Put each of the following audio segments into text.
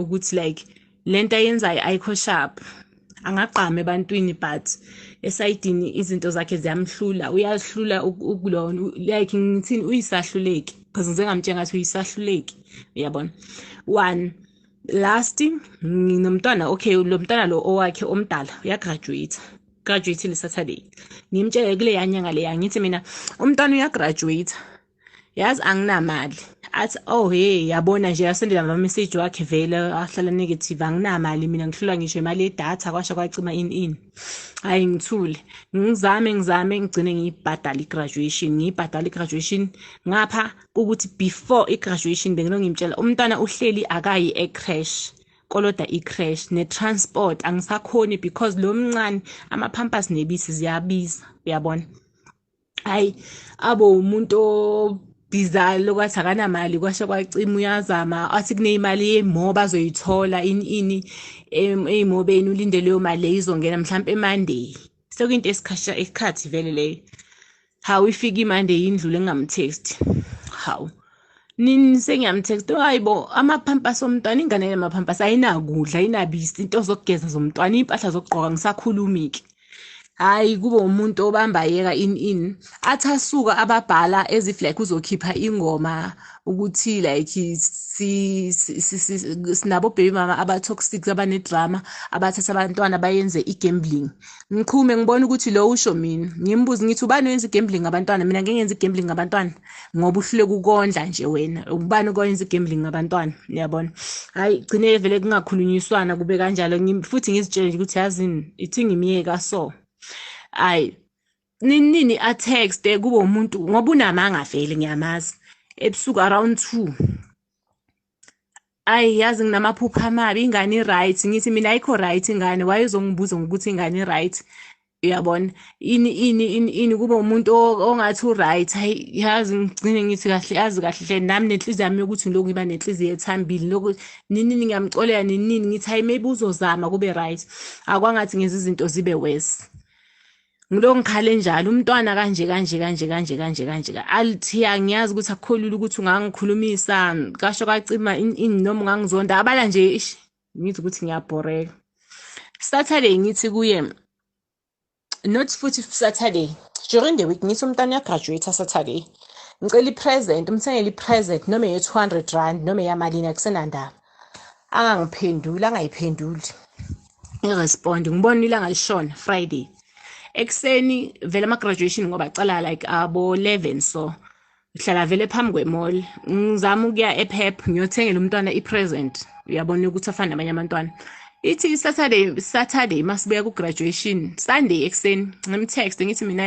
ukuthi like lento ayenzayo ayikho sharp angagqama ebantwini but esayidini izinto zakhe ziyamhlula uyazihlula ukulona like ngithini uyisahluleki because ngize ngamtshela ngathi uyisahluleki uyabona one last nginomntwana okay lo mntwana lo owakhe omdala uyagraduate graduate le saturday ngimtshele kuleya nyanga leya ngithi mina umntwana uyagraduate yazi anginamali athi oh hey yabona nje yasendela amameseji wakhe vele ahlala negative anginamali mina ngihlulwa ngisho imali yedatha kwasho kwacima in in hhayi ngithule ngizame ngizame ngigcine ngiyibhadala i-graduation ngiyibhadala i-graduation ngapha ukuthi before i-graduation bengilo ngimtshela umntwana uhleli akayi e-crash koloda i-crash ne-transport angisakhoni because lo mncane ama-pampers nebisi ziyabiza uyabona hayi abo umuntu diesel lokwathi akanamali kwashe kwacima uyazama athi kuneyimali yemo bazoyithola ini ini eyimobeni ulinde leyo mali leyo izongena mhlawumpe emonday sekuyinto esikhasha isikhathi vele leyo hawu ifike imande yindlule ngingamthesti hawu nini sengiyamtext hayi bo amaphampasi omntwana ingane yamaphampasi ayinakudla ayinabisi into zokugeza zomntwana iy'mpahla zokugqoka ngisakhulumi-ke hhayi kube umuntu obamba yeka in in athi asuka ababhala as if like uzokhipha ingoma ukuthi like sinabo baby mama aba-toxic abanedrama abathatha abantwana bayenze i-gambling ngiqhume ngibona ukuthi lo usho mina ngimbuze ngithi ubani wenza i-gambling ngabantwana mina ngeke ngenza i-gambling ngabantwana ngoba uhluleka ukondla nje wena ubani okwenza igambling ngabantwana uyabona hayi gcine vele kungakhulunyiswana kube kanjalo futhi ngizitshele nje ukuthi yazini ithi ngimyeka so hayi nini atext kube umuntu ngoba unamanga vele ngiyamazi ebusuku around 2 ayi yazi nginamaphupha amabi ingane i-right ngithi mina ayikho right ingane waye uzongibuza ngokuthi ingane i-right uyabona ini ini ini ini kube umuntu ongathi u-right hayi yazi ngigcine ngithi kahle yazi kahle hle nami nenhliziyo yami yokuthi ngilokhu ngiba nenhliziyo ethambile lokhu ninini ngiyamxolela ninini ngithi hayi maybe uzozama kube right akwangathi ngenza izinto zibe worse ngilo ngikhale njalo umntwana kanje kanje kanje kanje kanje kanje alithiya ngiyazi ukuthi akukholula ukuthi ungangikhulumisa kasho kacima noma ungangizonda abala nje ish ngithi ukuthi ngiyabhoreka saturday ngithi kuye not futhi saturday during the week ngithi umntwana uyagraduate saturday ngicela i-present umthengele i-present noma ye-two hundred rand noma eyamalini akusenandaba angangiphenduli angayiphenduli irespond ngibona ilanga lishona friday ekuseni vele ama-graduation ngoba cala like abo 11 so ngihlala vele phambi kwemall ngizama ukuya epep ngiyothengela umntwana i-present uyabona ukuthi afane nabanye abantwana ithi saturday saturday masibuya ku-graduation sunday ekuseni ngimtext ngithi mina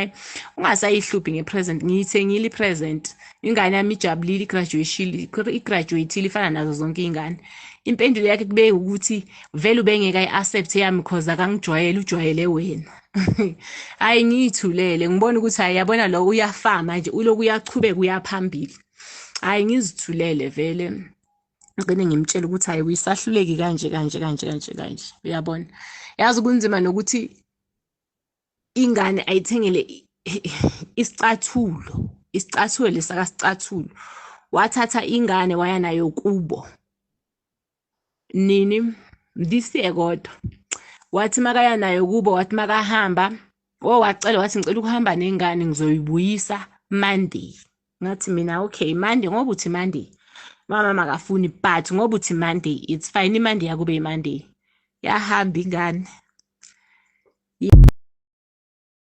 ungasayihluphi nge-present ngiyithengile i-present ingane yami ijabulile igraduatile ifana nazo zonke iy'ngane impendulo yakhe kube ukuthi vele ubengeke ayi-accept yami cause akangijwayele ujwayele wena hhayi ngiyithulele ngibona ukuthi hhayi yabona lo uyafama nje uloku uyachubeka uyaphambili hhayi ngizithulele vele ngigcine ngimtshela ukuthi hhayi uyisahluleki kanje kanje kanje kanje kanje uyabona yazi kunzima nokuthi ingane ayithengele isicathulo isicathulo lesakasicathulo wathatha ingane waya nayo kubo nini this year kodwa wathi makaya nayo kubo wathi makahamba o wacela wathi ngicela ukuhamba nengane ngizoyibuyisa monday ngathi mina okay mande ngoba uthi mande mama makafuni but ngoba uthi mande it's fine imande yakube imande yahamba ingane